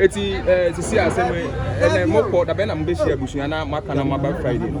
Eti eh, sisi asɛm yi, ɛnna mokɔ dabɛn na mobɛhyia abusua na moaka na moaba Friday no.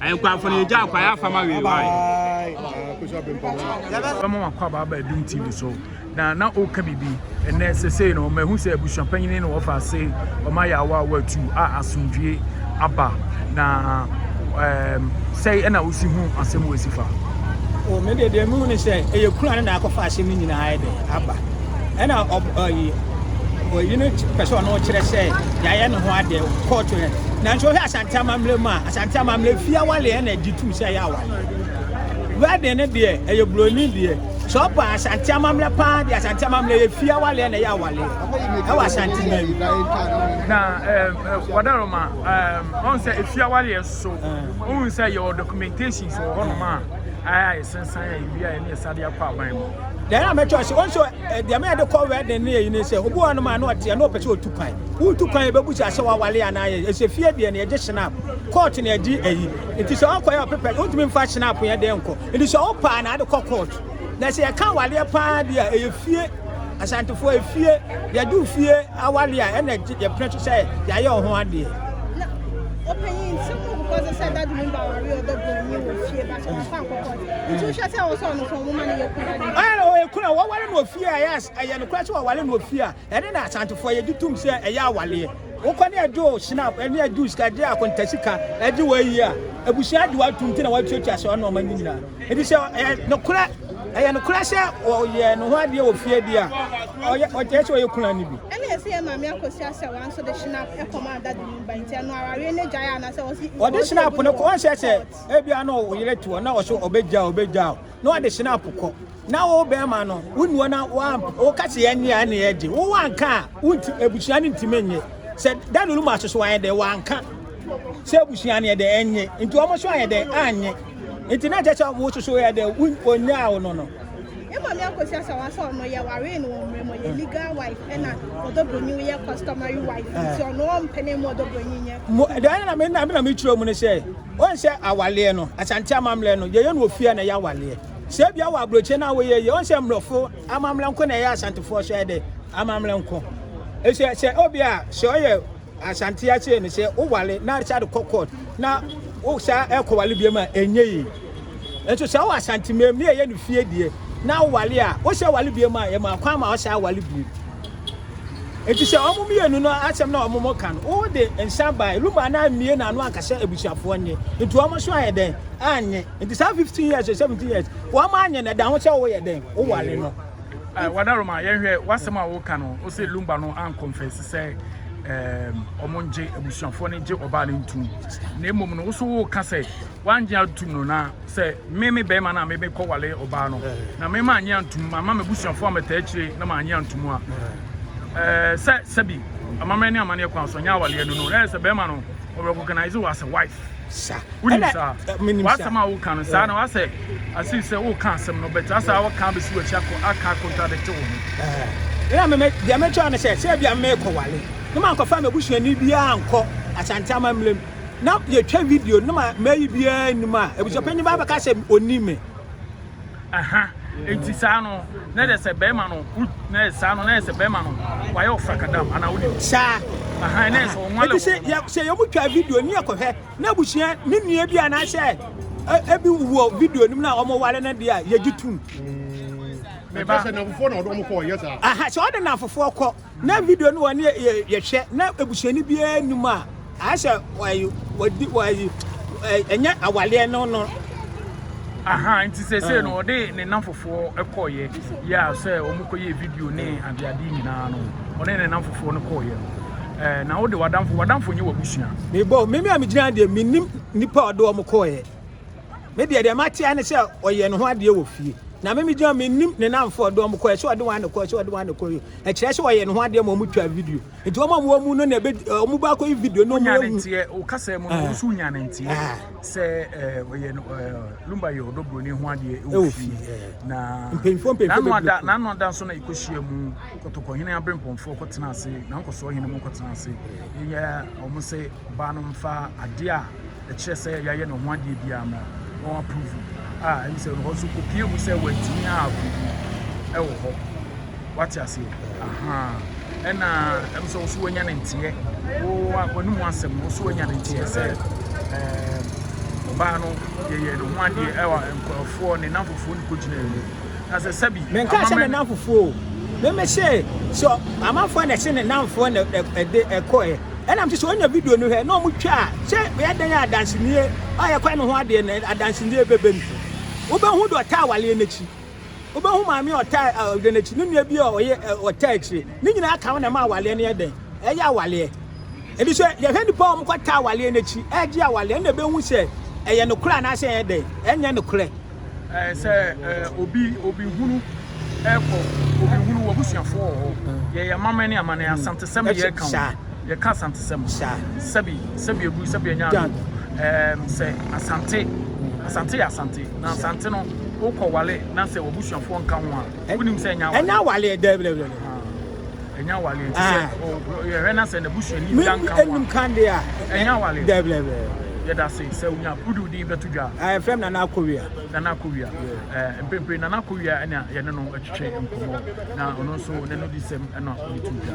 Ayɛnkwafo no yɛgyaa kwae afa ma wee wae. Bɛma wakɔ abaaba adum TV so na na ɔka biribi ɛnɛ sesei no mahu sɛ abusua panyini na wɔfa ase ɔma yɛ awa awa tu a asomdwie aba na um, sɛe ɛna wosi hu asɛm wɔ asifa. O me deɛ deɛ mehu ne sɛ ɛyɛ kura no na akɔfa asɛm no nyinaa ɛdɛ aba ɛna ɔyi ɔyi no pɛ sɛ ɔno kyerɛ sɛ yɛayɛ ne ho adeɛ kɔɔto no nanso wohwɛ asante amammerɛ mu a Asante amammerɛ fie awaleɛ na gye tum sɛ ɛyɛ awaleɛ. Wedding no deɛ ɛyɛ buroni deɛ. Sɛ ɔpa asante amammerɛ paa deɛ asante amammerɛ yɛ fie awaleɛ na ɛyɛ awaleɛ. Ɛwɔ asante man mu. Na wadaroma ɔn sɛ efie awaleɛ so ohun sɛ yɛwɔ documentations wɔ hɔnom a ɛsensan a ebi a ɛne ɛsade akɔ aban mu. Deɛ na mɛkyɛ ɔsɛ ɔn sɛ Deɛ meyɛ de kɔ wedding ne yɛyi ne sɛ obi wɔ nom a na ɔteɛ na ɔpɛ sɛ ɔtu kwan wotu kwan yɛbɛbu sɛ asɛ wawale anaa yɛ ɛsɛ fie deɛ ne yɛgye shenap court ne ɛgye ayi nti sɛ ɔkɔ yɛ ɔpepɛ wontumi mfa shenap yɛ deɛ nkɔ nti sɛ ɔpaa na ade kɔ court na sɛ yɛka awaleɛ paa deɛ a ɛyɛ fie asantefoɔ yɛ fie yɛgye fie awale a ɛna yɛpene so sɛ yɛayɛ ɔho adeɛ ɔpanyin nsɛm ɔkɔkɔ sɛ sɛ dade mu ba aware ɔdɔ bɔ nyi wɔ fie ba sɛ wɔfa nkɔkɔ Ɔyɛ no ɔyɛ kunu a wɔware no ofie a ɛyɛ ɛyɛ no kora sɛ wɔware no ofie a ɛne na asantefoɔ yɛgye tom sɛ ɛyɛ awaleɛ wokɔ ne ɛgye o snap ɛne ɛgye o sika ɛgye akonta sika ɛgye wɔ ayi a abusua de watom nti na watuatua sɛ ɔne ɔma no nyinaa ɛdi sɛ ɛyɛ no kora ɛyɛ no kora sɛ ɔyɛ no ho adeɛ wɔ fie bi a ɔyɛ ɔyɛ sɛ ɔyɛ kunu ani bi ɛne ɛsɛ yɛ maame akɔsi asɛ wɔn nso de snap ɛkɔm adade mu ba nti ɛno awareɛ ne gyae anasɛ wɔsi ɔde snap no kɔ wɔn sɛ sɛ Ebia na wo yere te hɔ na ɔso ɔbɛgya ɔbɛgya na ɔde hyɛn apo kɔ na wo bɛrima no wo nua na woka sɛ yɛn nea ne yɛgye wo wanka a wonti abusua no ntumi nye sɛ daniel mu aso so ayɛ dɛ wanka sɛ abusua no yɛ dɛ ɛnye nti wɔn so ayɛ dɛ anye nti na kyɛ sɛ wo soso yɛ dɛ wonyaa wo no no ɛma mi akɔsi asa wa sɛ ɔno yɛ ware no wɔn mmerɛ mu yɛ legal wife ɛna ɔdɔ broni yɛ customary wife nti ɔno ɔmpɛ ne mu ɔdɔ broni nyɛ. mo ɛdɛn na mi na mi na mi kyerɛ mu ne sɛ. Woahu sɛ awaleɛ no, Asante amammerɛ no, yɛyɛ no wɔ fie a na ɛyɛ awaleɛ. Sɛ ebia wɔ aburokyire no a woyɛ yie, woahu sɛ mmorɔfo amammerɛ nko na ɛyɛ Asantefoɔ so ayɛ dɛ, amammerɛ nko. Sɛ sɛ ebia sɛ ɔyɛ Asante ase no sɛ wowale na sɛ ade kɔ court na wo saa ɛkɔwale biam a ɛnyɛ yie. Nso sɛ wɔ Asante mmam ne yɛyɛ no fie deɛ na wowale a wosɛ wale biam a yɛma kwan ma wosan awale biam. Enti sɛ wɔn mmienu no asɛm na wɔn ka no, wo de nsa ba Eluma na ammie n'ano anka sɛ abusuafoɔ nye. Nti wɔn nso ayɛ dɛn? Annye. Nti saa 15 years or 17 years, wɔn annye no, ɛda ho sɛ woyɛ dɛn? Woware no. Eh, Wadaroma, yɛnhwɛ w'asɛm a woka no, wo sɛ Lumba no ankɔmfɛse sɛ wɔn eh, ngye, abusuafoɔ no gye ɔbaa no ntum. Na mmom no, wo so woka sɛ wangye atum no na sɛ me me bɛrima no a mebɛkɔ wale ɔbaa no na mema anye antom mama m'abusuafoɔ a mɛtaa akyire na maanye antom a eh, sɛ sɛbi amammerɛ ne amanneɛ kwan so nyɛ awaleɛ no no na ɛyɛ sɛ bɛrima no ɔrecognize wɔ asɛ wife wonim saa eh, wasɛm a woka no saa na wasɛ asei sɛ woka asɛm no bɛte asɛ a woka bɛsi wakyi aka contradict wo ho ɛna meme deɛ mɛkyɛw no sɛ sɛ bia mekɔ wale ne mankɔfa m'abusuani biaa nkɔ asante amammerɛ mu na yɛtwa video na mayi biara nnim a abusuapanyin baa bɛka sɛ ɔnni me aha nti saa no na yɛ sɛ bɛrima no na yɛ saa no na yɛ sɛ bɛrima no wayɛ ɔfrakadam anaa wonim saa aha na yɛ sɛ ɔnwa lɛ sɛ sɛ yɛmu twa video ne yɛkɔhwɛ na abusua ne nua bi anaasɛ ebi wɔ video nim na wɔn wale no deɛ a yɛgye tum. Meba sɛ nafofoɔ na ɔdɔm kɔ ɔyɛ saa. Aha sɛ ɔde nafofoɔ kɔ. Na video no wɔne yɛ yɛhwɛ na ebusuani biara nni mu a ayɛ sɛ wɔyi wɔdi wɔyi ɛnyɛ awaleɛ no no. Aha nti sɛsɛ no ɔde ne nnamfofoɔ kɔɔyɛ yɛ a sɛ wɔn kɔyɛ video ne adeade nyinaa no ɔne ne nnamfofoɔ no kɔɔyɛ no. Eh, na wode wadamfo wadamfo nyɛ wabusua. Mebɔ mimi a megyina deɛ menim nipa a ɔde wɔn kɔɔyɛ. Me deɛ deɛ mate ara ne sɛ ɔyɛ ne ho adeɛ wɔ fie. Na me megyina mennim ne namfoɔ de wɔn kɔɛ sɛ ɔde wɔn anekɔ sɛ ɔde wɔn anekɔ yi. Ɛkyerɛ sɛ ɔyɛ ne ho adeɛ ma wɔn twa video. Nti wɔn a wɔn mu no na ebe wɔn ba akɔyi video no wɔn ehu. Nti o kasa mu no wɔn nso nya ne nti sɛ ɔyɛ lumba yɛ ɔdɔ broni ho adeɛ wɔ fie. Na mpanyinfoɔ mpanyinfoɔ bebree. N'ano ada n'ano ada nso na ekohyia mu kɔtɔkɔ hene abirempɔnfoɔ kɔtena ase na nkɔsoɔ hene mu kɔtena ase. Yɛ wɔn sɛ. Ɔbaa no mfa adeɛ a ɛkyerɛ sɛ yɛayɛ ne ho adeɛ biara ma wɔn approve a ɛne sɛ hɔ nso kɔpie mu sɛ wɔatumi a approve ɛwɔ hɔ wate aseɛ ahaa ɛna ɛm sɛ wo so wanya ne nteɛ wɔne mu asɛm no wo so wanya ne nteɛ sɛ ɔbaa no yɛyɛ ne ho adeɛ ɛwɔ nkurɔfoɔ ne namfofoɔ no kɔgyina mu na sɛ sɛbi menka sɛ ne namfofoɔ o meme sɛ sɛ amanfoɔ na ɛse ne namfoɔ na ɛde ɛkɔɛ Ɛna mete sɛ onya video no hwɛ na ɔmo twa a sɛ bɛyɛ dɛn a adansennie a yɛkwae no ho adeɛ no adansennie bɛba mu. Wobɛhu deɛ ɔtaa awareɛ no akyi. Wobɛhu maame a ɔtaa awareɛ no akyi, ne nua bi a ɔyɛ ɔtaa akyire. Ne nyinaa ka ho na ɛma awareɛ no yɛ dɛn? Ɛyɛ awareɛ. Ɛnti sɛ yɛhwɛ nnipa a wɔkɔtaa awareɛ no akyi ɛregye awareɛ ɛna ɛbɛhu sɛ ɛyɛ nokorɛ anaasɛ ɛnyɛ dɛn? Ɛnyɛ nokorɛ. ɛɛ sɛ ɛɛ obi obi hunu ɛkɔ obi hunu wɔ busuafo wɔ hɔ yɛyɛ amammerɛ ne amanneɛ asantesɛm yɛ ka ho yɛka asantesɛm sɛbi sɛbi ebu sɛbi anya ado ɛɛm sɛ asante asante yɛ asante na asante no wokɔ wale na sɛ wɔ busuafo nka ho a wonim sɛ ɛnya awale ɛnya awale ɛdɛ ɛdɛ ɛdɛ. ɛnyɛ awale nti sɛ yɛhwɛ na sɛ n'abusuani bi anka ho a nka de a ɛnyɛ awale dɛblɛblɛ yɛda se sɛ wonya wode wo din bɛto dwa a ɛfrɛ m nana akowia nana akowia mpempere nana akowia ɛna yɛne no atwitwe nkɔmmɔ na ɔno nso n'ano di sɛm ɛna ɔde to dwa